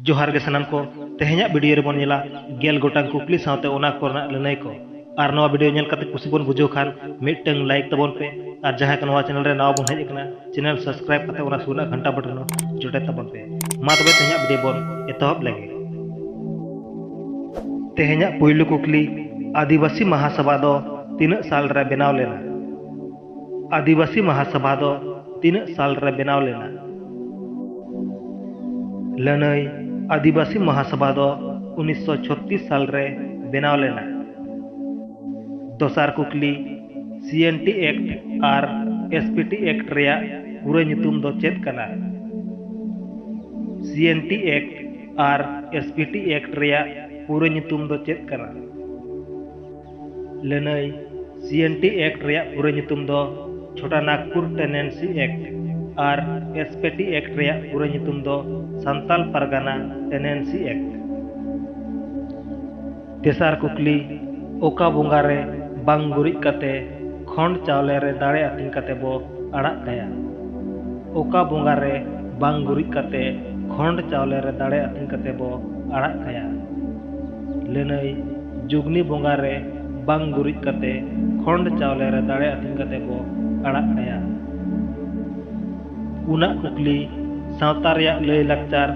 ᱡᱚᱦᱟᱨ ᱜᱮ ᱥᱟᱱᱟᱢ ᱠᱚ ᱛᱮᱦᱮᱧᱟᱜ ᱵᱷᱤᱰᱤᱭᱳ ᱨᱮᱵᱚᱱ ᱧᱮᱞᱟ ᱜᱮᱞ ᱜᱚᱴᱟᱝ ᱠᱩᱠᱞᱤ ᱥᱟᱶᱛᱮ ᱚᱱᱟ ᱠᱚᱨᱮᱱᱟᱜ ᱞᱟᱹᱱᱟᱹᱭ ᱠᱚ ᱟᱨ ᱱᱚᱣᱟ ᱵᱷᱤᱰᱤᱭᱳ ᱧᱮᱞ ᱠᱟᱛᱮ ᱠᱩᱥᱤ ᱵᱚᱱ ᱵᱩᱡᱷᱟᱹᱣ ᱠᱷᱟᱱ ᱢᱤᱫᱴᱟᱝ ᱞᱟᱭᱤᱠ ᱛᱟᱵᱚᱱ ᱯᱮ ᱟᱨ ᱡᱟᱦᱟᱸᱭ ᱠᱚ ᱱᱚᱣᱟ ᱪᱮᱱᱮᱞ ᱨᱮ ᱱᱟᱣᱟ ᱵᱚᱱ ᱦᱮᱡ ᱟᱠᱟᱱᱟ ᱪᱮᱱᱮᱞ ᱥᱟᱵᱥᱠᱨᱟᱭᱤᱵ ᱠᱟᱛᱮ ᱚᱱᱟ ᱥᱩᱨ ᱨᱮᱱᱟᱜ ᱜᱷᱟᱱᱴᱟ ᱵᱚᱴᱚᱱ ᱡᱚᱴᱮᱫ ᱛᱟᱵᱚᱱ ᱯᱮ ᱢᱟ ᱛᱚᱵᱮ ᱛᱮᱦᱮᱧᱟᱜ ᱵᱷᱤᱰᱤᱭᱳ ᱵᱚᱱ ᱮᱛᱚᱦᱚᱵ ᱞᱮᱜᱮ ᱛᱮᱦᱮᱧᱟᱜ ᱯᱩᱭᱞᱩ ᱠᱩᱠᱞᱤ ᱟᱹᱫᱤᱵᱟᱹᱥᱤ ᱢᱟᱦᱟᱥᱚᱵᱷᱟ ᱫᱚ ᱛᱤᱱᱟᱹᱜ ᱥᱟᱞ ᱨᱮ ᱵᱮᱱᱟᱣ ᱞᱮᱱᱟ ᱟᱹᱫᱤᱵᱟᱹᱥᱤ ᱢᱟᱦᱟᱥᱚᱵᱷᱟ ᱫᱚ ᱛᱤᱱᱟᱹᱜ ᱥᱟᱞ ᱨᱮ ᱵᱮᱱᱟᱣ ᱞᱮᱱᱟ? ᱞᱟᱹᱱᱟᱹᱭ ᱟᱹᱫᱤᱵᱟᱹᱥᱤ ᱢᱟᱦᱟᱥᱚᱵᱷᱟ ᱫᱚ ᱩᱱᱤᱥ ᱥᱚ ᱪᱷᱚᱛᱛᱤᱥ ᱥᱟᱞ ᱨᱮ ᱵᱮᱱᱟᱣ ᱞᱮᱱᱟ᱾ ᱫᱚᱥᱟᱨ ᱠᱩᱠᱞᱤ, ᱥᱤᱮᱱᱴᱤ ᱮᱠᱴ ᱟᱨ ᱮᱥᱯᱤᱴᱤ ᱮᱠᱴ ᱨᱮᱭᱟᱜ ᱯᱩᱨᱟᱹ ᱧᱩᱛᱩᱢ ᱫᱚ ᱪᱮᱫ ᱠᱟᱱᱟ? ᱥᱤᱮᱱᱴᱤ ᱮᱠᱴ ᱟᱨ ᱮᱥᱯᱤᱴᱤ ᱮᱠᱴ ᱨᱮᱭᱟᱜ ᱯᱩᱨᱟᱹ ᱧᱩᱛᱩᱢ ᱫᱚ ᱪᱮᱫ ᱠᱟᱱᱟ? ᱞᱟᱹᱱᱟᱹᱭ ᱥᱤᱮᱱᱴᱤ ᱮᱠᱴ ᱨᱮᱭᱟᱜ ᱯᱩᱨᱟᱹ ᱧᱩᱛᱩᱢ ᱫᱚ ᱪᱷᱳᱴᱟ ᱱᱟᱜᱽᱯᱩᱨ ᱴᱮᱱᱮᱱᱥᱤ ᱮᱠᱴ ᱟᱨ ᱮᱥᱯᱮᱴᱤ ᱮᱠᱴ ᱨᱮᱭᱟᱜ ᱯᱩᱨᱟᱹ ᱧᱩᱛᱩᱢ ᱫᱚ ᱥᱟᱱᱛᱟᱞ ᱯᱟᱨᱜᱟᱱᱟ ᱴᱮᱱᱮᱱᱥᱤ ᱮᱠᱴ᱾ ᱛᱮᱥᱟᱨ ᱠᱩᱠᱞᱤ, ᱚᱠᱟ ᱵᱚᱸᱜᱟ ᱨᱮ ᱵᱟᱝ ᱜᱩᱨᱤᱡ ᱠᱟᱛᱮ ᱠᱷᱚᱸᱰ ᱪᱟᱣᱞᱮ ᱨᱮ ᱫᱟᱲᱮ ᱟᱹᱛᱤᱧ ᱠᱟᱛᱮ ᱵᱚ ᱟᱲᱟᱜ ᱠᱟᱭᱟ? ᱚᱠᱟ ᱵᱚᱸᱜᱟ ᱨᱮ ᱵᱟᱝ ᱜᱩᱨᱤᱡ ᱠᱟᱛᱮ ᱠᱷᱚᱸᱰ ᱪᱟᱣᱞᱮ ᱨᱮ ᱫᱟᱲᱮ ᱟᱹᱛᱤᱧ ᱠᱟᱛᱮ ᱵᱚ ᱟᱲᱟᱜ ᱠᱟᱭᱟ? ᱞᱟᱹᱱᱟᱹᱭ, ᱡᱩᱜᱽᱱᱤ ᱵᱚᱸᱜᱟ ᱨᱮ ᱵᱟᱝ ᱜᱩᱨᱤᱡ ᱠᱟᱛᱮ ᱠᱷᱚᱸᱰ ᱪᱟᱣᱞᱮ ᱨᱮ ᱫᱟᱲᱮ ᱟᱹᱛᱤᱧ ᱠᱟᱛᱮ ᱠᱚ ᱟᱲᱟᱜ ᱠᱟᱭᱟ᱾ ᱩᱱᱟᱜ ᱠᱩᱠᱞᱤ ᱥᱟᱶᱛᱟ ᱨᱮᱭᱟᱜ ᱞᱟᱹᱭ ᱞᱟᱠᱪᱟᱨ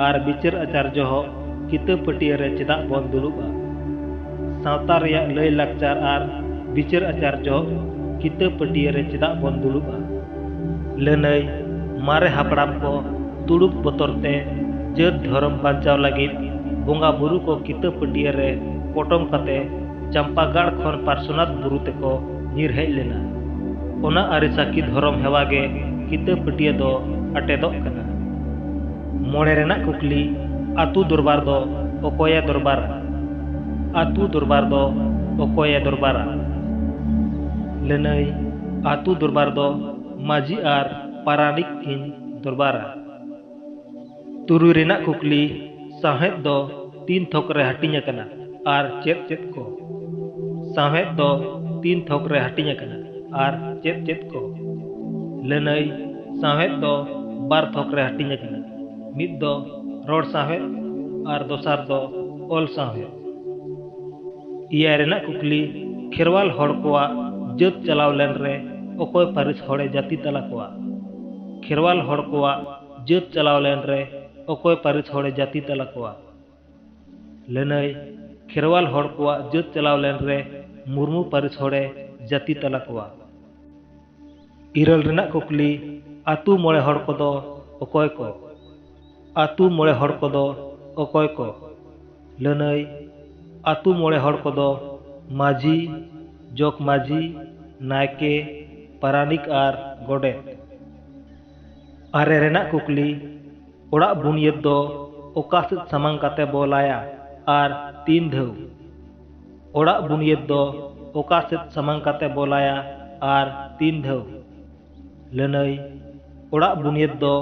ᱟᱨ ᱵᱤᱪᱟᱹᱨ ᱟᱪᱟᱨ ᱡᱚᱦᱚᱜ ᱠᱤᱛᱟᱹ ᱯᱟᱹᱴᱤᱭᱟᱹ ᱨᱮ ᱪᱮᱫᱟᱜ ᱵᱚᱱ ᱫᱩᱲᱩᱵᱼᱟ? ᱥᱟᱶᱛᱟ ᱨᱮᱭᱟᱜ ᱞᱟᱹᱭ ᱞᱟᱠᱪᱟᱨ ᱟᱨ ᱵᱤᱪᱟᱹᱨ ᱟᱪᱟᱨ ᱡᱚᱦᱚᱜ ᱠᱤᱛᱟᱹ ᱯᱟᱹᱴᱤᱭᱟᱹ ᱨᱮ ᱪᱮᱫᱟᱜ ᱵᱚᱱ ᱫᱩᱲᱩᱵᱼᱟ? ᱞᱟᱹᱱᱟᱹᱭ ᱢᱟᱨᱮ ᱦᱟᱯᱲᱟᱢ ᱠᱚ ᱛᱩᱲᱩᱠ ᱵᱚᱛᱚᱨ ᱛᱮ ᱡᱟᱹᱛ ᱫᱷᱚᱨᱚᱢ ᱵᱟᱧᱪᱟᱣ ᱞᱟᱹᱜᱤᱫ ᱵᱚᱸᱜᱟ ᱵᱩᱨᱩ ᱠᱚ ᱠᱤᱛᱟᱹ ᱯᱟᱹᱴᱭᱟᱹ ᱨᱮ ᱯᱚᱴᱚᱢ ᱠᱟᱛᱮ ᱪᱟᱢᱯᱟᱜᱟᱲ ᱠᱷᱚᱱ ᱯᱟᱨᱥᱚᱱᱟᱛᱷ ᱵᱩᱨᱩ ᱛᱮᱠᱚ ᱧᱤᱨ ᱦᱮᱡ ᱞᱮᱱᱟ᱾ ᱚᱱᱟ ᱟᱹᱨᱤ ᱥᱟᱹᱠᱷᱤ ᱫᱷᱚᱨᱚᱢ ᱦᱮᱣᱟ ᱜᱮ ᱠᱤᱛᱟᱹ ᱯᱟᱹᱴᱭᱟᱹ ᱫᱚ ᱟᱴᱮᱫᱚᱜ ᱠᱟᱱᱟ᱾ ᱢᱚᱬᱮ ᱨᱮᱱᱟᱜ ᱠᱩᱠᱞᱤ, ᱟᱹᱛᱩ ᱫᱚᱨᱵᱟᱨ ᱫᱚ ᱚᱠᱚᱭ ᱮ ᱫᱚᱨᱵᱟᱨᱟ? ᱟᱹᱛᱩ ᱫᱚᱨᱵᱟᱨ ᱫᱚ ᱚᱠᱚᱭ ᱮ ᱫᱚᱨᱵᱟᱨᱟ? ᱞᱟᱹᱱᱟᱹᱭ ᱟᱹᱛᱩ ᱫᱚᱨᱵᱟᱨ ᱫᱚ ᱢᱟᱹᱡᱷᱤ ᱟᱨ ᱯᱟᱨᱟᱱᱤᱠ ᱠᱤᱱ ᱫᱚᱨᱵᱟᱨᱟ᱾ ᱛᱩᱨᱩᱭ ᱨᱮᱱᱟᱜ ᱠᱩᱠᱞᱤ, ᱥᱟᱶᱦᱮᱫ ᱫᱚ ᱛᱤᱱ ᱛᱷᱚᱠ ᱨᱮ ᱦᱟᱹᱴᱤᱧ ᱟᱠᱟᱱᱟ ᱟᱨ ᱪᱮᱫ ᱪᱮᱫ ᱠᱚ? ᱥᱟᱶᱦᱮᱫ ᱫᱚ ᱛᱤᱱ ᱛᱷᱚᱠ ᱨᱮ ᱦᱟᱹᱴᱤᱧ ᱟᱠᱟᱱᱟ ᱟᱨ ᱪᱮᱫ ᱪᱮᱫ ᱠᱚ? ᱞᱟᱹᱱᱟᱹᱭ, ᱥᱟᱶᱦᱮᱫ ᱫᱚ ᱵᱟᱨ ᱛᱷᱚᱠ ᱨᱮ ᱦᱟᱹᱴᱤᱧ ᱟᱠᱟᱱᱟ, ᱢᱤᱫ ᱫᱚ ᱨᱚᱲ ᱥᱟᱶᱦᱮᱫ ᱟᱨ ᱫᱚᱥᱟᱨ ᱫᱚ ᱚᱞ ᱥᱟᱶᱦᱮᱫ᱾ ᱮᱭᱟᱭ ᱨᱮᱱᱟᱜ ᱠᱩᱠᱞᱤ, ᱠᱷᱮᱨᱣᱟᱞ ᱦᱚᱲ ᱠᱚᱣᱟᱜ ᱡᱟᱹᱛ ᱪᱟᱞᱟᱣ ᱞᱮᱱ ᱨᱮ ᱚᱠᱚᱭ ᱯᱟᱹᱨᱤᱥ ᱦᱚᱲ ᱮ ᱡᱟᱹᱛᱤ ᱛᱟᱞᱟ ᱠᱚᱣᱟ? ᱠᱷᱮᱨᱣᱟᱞ ᱦᱚᱲ ᱠᱚᱣᱟᱜ ᱡᱟᱹᱛ ᱪᱟᱞᱟᱣ ᱞᱮᱱ ᱨᱮ ᱚᱠᱚᱭ ᱯᱟᱹᱨᱤᱥ ᱦᱚᱲ ᱮ ᱡᱟᱹᱛᱤ ᱛᱟᱞᱟ ᱠᱚᱣᱟ? ᱞᱟᱹᱱᱟᱹᱭ, ᱠᱷᱮᱨᱣᱟᱞ ᱦᱚᱲ ᱠᱚᱣᱟᱜ ᱡᱟᱹᱛ ᱪᱟᱞᱟᱣ ᱞᱮᱱ ᱨᱮ ᱢᱩᱨᱢᱩ ᱯᱟᱹᱨᱤᱥ ᱦᱚᱲ ᱮ ᱡᱟᱹᱛᱤ ᱛᱟᱞᱟ ᱠᱚᱣᱟ᱾ ᱤᱨᱟᱹᱞ ᱨᱮᱱᱟᱜ ᱠᱩᱠᱞᱤ, ᱟᱹᱛᱩ ᱢᱚᱬᱮ ᱦᱚᱲ ᱠᱚᱫᱚ ᱚᱠᱚᱭ ᱠᱚ? ᱟᱹᱛᱩ ᱢᱚᱬᱮ ᱦᱚᱲ ᱠᱚᱫᱚ ᱚᱠᱚᱭ ᱠᱚ? ᱞᱟᱹᱱᱟᱹᱭ, ᱟᱹᱛᱩ ᱢᱚᱬᱮ ᱦᱚᱲ ᱠᱚᱫᱚ ᱢᱟᱹᱡᱷᱤ, ᱡᱚᱜᱽᱢᱟᱹᱡᱷᱤ, ᱱᱟᱭᱠᱮ, ᱯᱟᱨᱟᱱᱤᱠ ᱟᱨ ᱜᱚᱰᱮᱛ᱾ ᱟᱨᱮ ᱨᱮᱱᱟᱜ ᱠᱩᱠᱞᱤ, ᱚᱲᱟᱜ ᱵᱩᱱᱤᱭᱟᱹᱫᱽ ᱫᱚ ᱚᱠᱟ ᱥᱮᱫ ᱥᱟᱢᱟᱝ ᱠᱟᱛᱮ ᱵᱚ ᱞᱟᱭᱟ ᱟᱨ ᱛᱤᱱ ᱫᱷᱟᱹᱣ? ᱚᱲᱟᱜ ᱵᱩᱱᱤᱭᱟᱹᱫᱽ ᱫᱚ ᱚᱠᱟ ᱥᱮᱫ ᱥᱟᱢᱟᱝ ᱠᱟᱛᱮ ᱵᱚᱞᱟᱭᱟ ᱟᱨ ᱛᱤᱱ ᱫᱷᱟᱹᱣ? ᱞᱟᱹᱱᱟᱹᱭ, ᱚᱲᱟᱜ ᱵᱩᱱᱤᱭᱟᱹᱫᱽ ᱫᱚ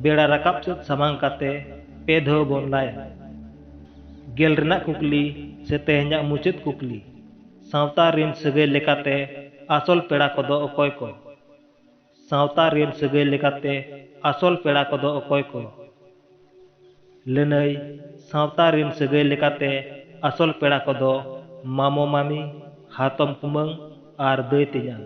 ᱵᱮᱲᱟ ᱨᱟᱠᱟᱵ ᱥᱮᱫ ᱥᱟᱢᱟᱝ ᱠᱟᱛᱮ ᱯᱮ ᱫᱷᱟᱹᱣ ᱵᱚᱱ ᱞᱟᱭᱟ᱾ ᱜᱮᱞ ᱨᱮᱱᱟᱜ ᱠᱩᱠᱞᱤ ᱥᱮ ᱛᱮᱦᱮᱧᱟᱜ ᱢᱩᱪᱟᱹᱫ ᱠᱩᱠᱞᱤ, ᱥᱟᱶᱛᱟ ᱨᱤᱱ ᱥᱟᱹᱜᱟᱹᱭ ᱞᱮᱠᱟᱛᱮ ᱟᱥᱚᱞ ᱯᱮᱲᱟ ᱠᱚᱫᱚ ᱚᱠᱚᱭ ᱠᱚ? ᱥᱟᱶᱛᱟ ᱨᱤᱱ ᱥᱟᱹᱜᱟᱹᱭ ᱞᱮᱠᱟᱛᱮ ᱟᱥᱚᱞ ᱯᱮᱲᱟ ᱠᱚᱫᱚ ᱚᱠᱚᱭ ᱠᱚ? ᱞᱟᱹᱱᱟᱹᱭ, ᱥᱟᱶᱛᱟ ᱨᱤᱱ ᱥᱟᱹᱜᱟᱹᱭ ᱞᱮᱠᱟᱛᱮ ᱟᱥᱚᱞ ᱯᱮᱲᱟ ᱠᱚᱫᱚ ᱢᱟᱢᱚ ᱢᱟᱢᱤ, ᱦᱟᱛᱚᱢ ᱠᱩᱢᱟᱹᱝ ᱟᱨ ᱫᱟᱹᱭ ᱛᱮᱧᱟᱝ᱾